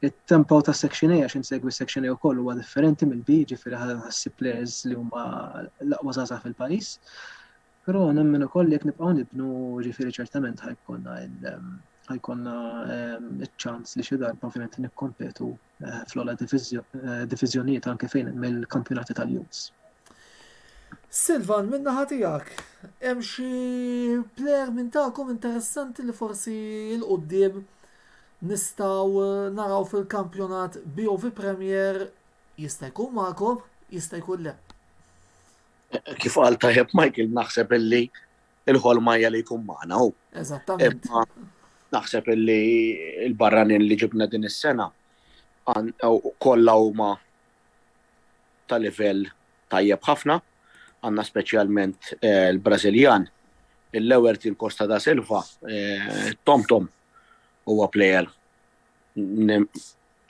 Il-tempo ta' section A, għax insegwi section A u koll huwa differenti minn B, ġifiri ħassib players li huma l-aqwa zaza fil-pajis. Pero nemmen u koll jek nibqaw nibnu ġifiri ċertament ħajkonna ħajkonna ehm, ċans li xi darba ovvjament nikkompetu eh, fl-ola diviżjonijiet anke fejn mill-kampjonati tal-Youths. Silvan, minna ħatijak, hemm xi player minn tagħkom interessanti li forsi l-qoddim nistaw eh, naraw fil-kampjonat BOV Premier jista' jkun magħkom, jista' jkun le. Kif għal tajjeb Michael, naħseb illi il-ħolma hija li jkun magħna hu. Eżattament. Naħseb li l-barranin li ġibna din is-sena kollha huma ta' livell tajjeb ħafna, għandna speċjalment eh, l-Brażiljan, il-Lewertin Costa da Silva, eh, Tom Tom huwa plejer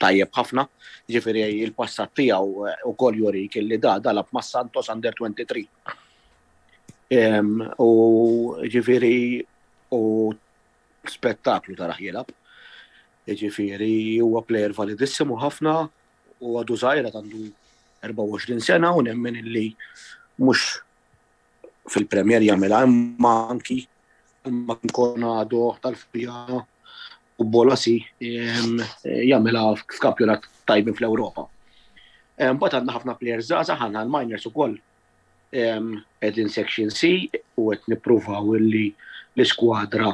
tajjeb ħafna, jiġifieri l-passat tiegħu wkoll jurik illi da dalab ma' Santos Under 23. U jiġifieri u spettaklu taraħ jilgħab. Jiġifieri huwa plejer validissimu ħafna u għadu żgħir għandu 24 sena u nemmen illi mhux fil-Premier jagħmilha imma anki ma nkun għadu tal-fija u bolasi ehm, jagħmilha f'kampjonat tajbin fl-Ewropa. Ehm, Bat għandna ħafna players żgħażagħ għandna l-miners ukoll ehm, qegħdin section C u qed nippruvaw illi l-iskwadra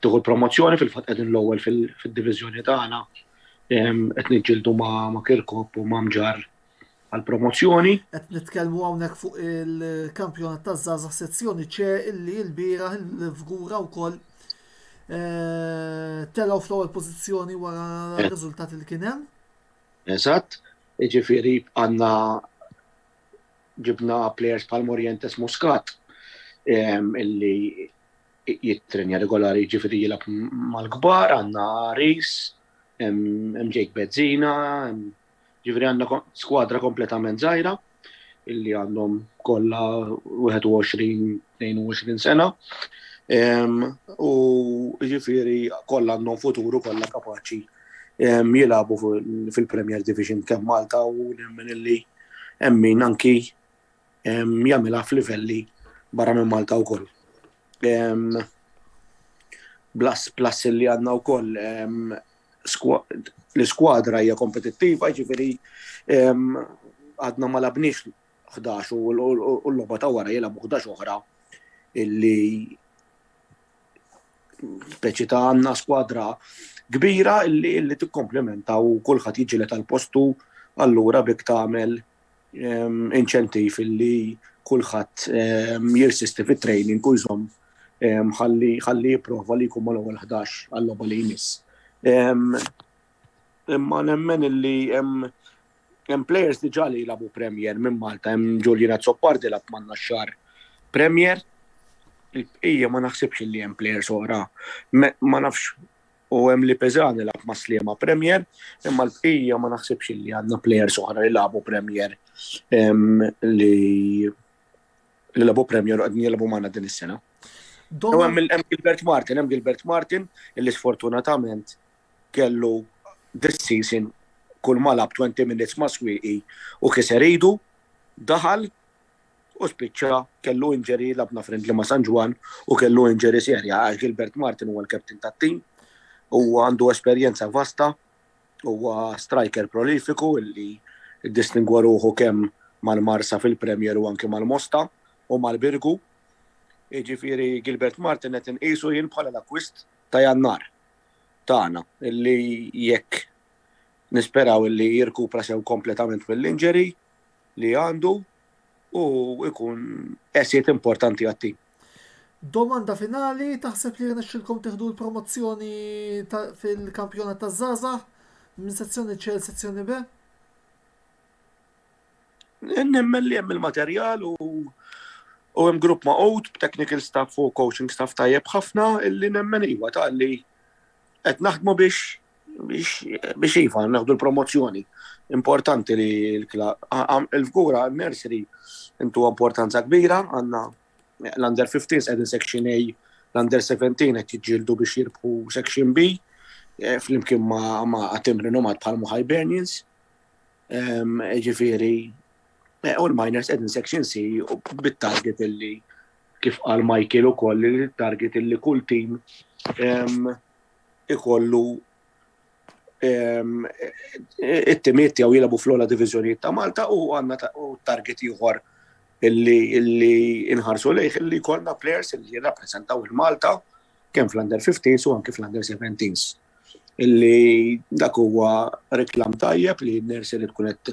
tieħu l-promozzjoni, fil-fatt qegħdin l-ewwel fid-diviżjoni tagħna, qed niġġieldu ma' Kirkop u ma' Mġarr għall-promozzjoni. Qed nitkellmu hawnhekk fuq il-kampjonat taż-żgħażagħ sezzjoni ċe illi l-bieraħ il-Fgura wkoll eh, telgħu fl-ewwel pożizzjoni wara eh. r-riżultati li kien hemm. Eżatt, jiġifieri għandna ġibna players bħal Morientes Muscat illi jittrenja regolari jiġifieri jilgħab mal-kbar, għandna Rees, hemm Jake Bezzina, jiġifieri għandna skwadra kompletament żgħira illi għandhom kollha 21-22 sena. U ġifiri kollha għandhom futuru kollha kapaċi jilabu fil-Premier Division kemm Malta u nemmen illi emmin anki jagħmilha f'livelli barra minn Malta wkoll. Plus plus li għandna wkoll l-iskwadra hija kompetittiva, ġifieri għadna ma labniex 11 u l-logħba ta' wara jilagħbu 11 oħra illi speċi ta' għandna skwadra kbira illi tikkomplementa u kulħadd jiġilet għal postu allura bik tagħmel ehm, inċentiv li kulħadd ehm, jirsisti fit-training u jżomm ehm, ħalli jipprova li jkun mal-ewwel 11 għall-logħba li jmiss. Imma nemmen illi hemm hemm players diġà li jilagħbu Premier minn Malta, hemm Ġuljina Zoppardi lab manna xar Premier. Ija ma naħsibx li hemm players oħra. Ma nafx u hemm li Peżan ilgħab ma' Sliema Premier, imma l-bqija ma naħsibx li għandna plejers oħra li lagħbu Premier li li lagħbu Premier u qegħdin jilagħbu magħna din is-sena. U hemm Gilbert Martin, hemm Gilbert Martin illi sfortunatament kellu this season kull malab 20 minutes ma' swieqi u kiser idu, daħal u spiċċa kellu injury labna friendly ma' San Ġwann u kellu injury serja għax Gilbert Martin huwa l-captain tat-tim u għandu esperjenza vasta huwa striker prolifiku illi ddistingwa ruħu kemm mal-Marsa fil-Premier u anke mal-Mosta u mal-Birgu. Jiġifieri Gilbert Martin qed inqisu jien bħala l-akkwist ta' Jannar tagħna illi jekk nisperaw illi jirkupra sew kompletament mill-injury li għandu u ikun esit importanti għat-tim. Domanda finali, taħseb li rnexxilkom tieħdu l-promozzjoni fil-kampjonat taż-żgħażagħ minn sezzjoni C sezzjoni B? Nemmen li hemm il-materjal u u hemm grupp ma' out, technical staff u coaching staff tajjeb ħafna illi nemmen iwa ta' li Qed naħdmu biex biex iva naħdu l-promozzjoni. Importanti li l-fgura nursery intu importanza kbira għandna l-under 15 qegħdin section A, l-under 17 qed jiġġieldu biex jirbħu section B eh, flimkien ma' għatim rinomat bħal Hibernians. Ġifieri eh, u l-miners qegħdin section C u bit-target illi kif qal Michael ukoll li t-target li kull tim ikollu it-timiet jew jilagħbu fl-ogħla diviżjonijiet ta' Malta u għandna target ieħor illi inħarsu lejh illi jkollna players illi jirrappreżentaw il-Malta kemm fl-under 15 u anke fl-under 17s. Illi dak huwa reklam tajjeb li n-nersi li tkun qed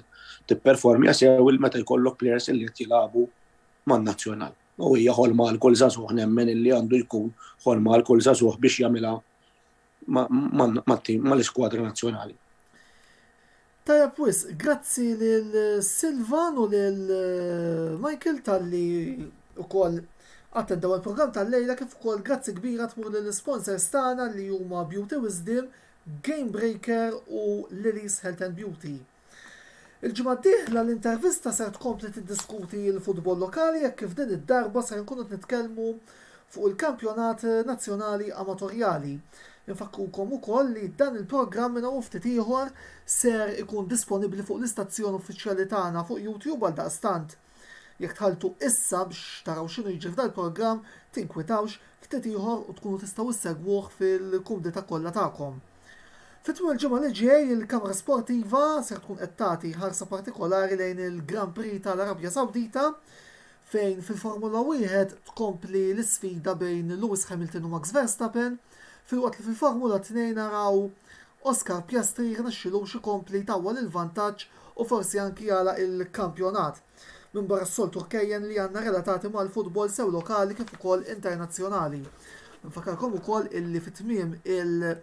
tipperformja sew il-meta jkollok players illi qed jilagħbu man-Nazzjonal. U hija ħolma għal kull żagħżugħ nemmen illi għandu jkun ħolma għal kull żagħżugħ biex jagħmilha mal-iskwadra nazzjonali. Tajjeb wisq, grazzi lil Silvan u lil Michael talli wkoll attendaw il-programm tal-lejla kif ukoll grazzi kbira tmur lill-isponsors tagħna li huma Beauty Wisdom, Game Breaker u Lily's Health and Beauty. Il-ġimgħa d-dieħla l-intervista ser tkompli tiddiskuti l-futbol lokali hekk kif din id-darba ser inkunu qed nitkellmu fuq il-kampjonat nazzjonali amatorjali. Infakkurkom ukoll li dan il-programm minn hawn u ftit ieħor ser ikun disponibbli fuq l-istazzjon uffiċjali tagħna fuq YouTube għaldaqstant Jekk tħalltu issa biex taraw x'inhu jiġri f'dal-programm, tinkwitawx ftit ieħor u tkunu tistgħu ssegwuh fil-kumdità kollha tagħkom. Fi tmiem il-ġimgħa li ġej, il-kamra sportiva ser tkun qed tagħti ħarsa partikolari lejn il-Grand Prix tal-Arabja Sawdita, fejn fil-Formula Wieħed tkompli l-isfida bejn Lewis Hamilton u Max Verstappen. filwaqt li fil-Formula Tnejn naraw Oscar Piastri jirnexxilux ikompli jtawwal il-vantaġġ u forsi anki jagħlaq il-kampjonat. Minbarra s-soltu rkejjen li għandna relatati mal-futbol sew lokali kif ukoll internazzjonali. Infakkarkom ukoll illi fi tmiem il-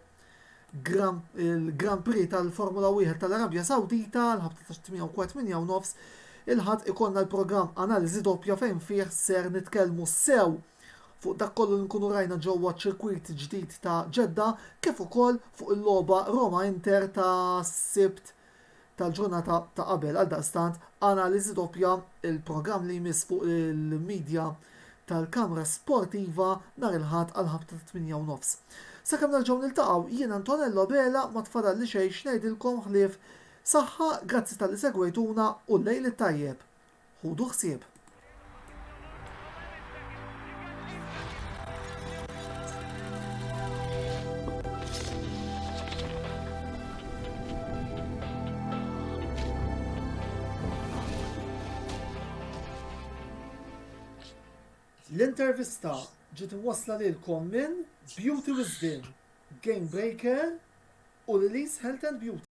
il-Grand Prix tal-Formula 1 tal-Arabja Sawdita l-ħabta ta' 8 u nofs il-ħadd ikollna l-programm Analiżi Doppja fejn fih ser nitkellmu sew fuq dak kollu li nkunu rajna ġewwa ċ-ċirkwit ġdid ta' Jeddah kif ukoll fuq il-logħba Roma-Inter tas-Sibt tal-ġurnata ta' qabel. Għaldaqstant, analiżi doppja, il-programm li jmiss fuq il-midja tal-Kamra Sportiva nhar il-Ħadd għall-ħabta tat-tmienja u nofs. Sakemm nerġgħu niltaqgħu, jien Antonello Abela ma tfadalli xejn x'ngħidilkom ħlief saħħa, grazzi talli segwejtuna u l-lejl it-tajjeb! Ħudu ħsieb! L-intervista ġiet iwassla lilkom minn Beauty Wisdom, Game Breaker u Lili's Health and Beauty.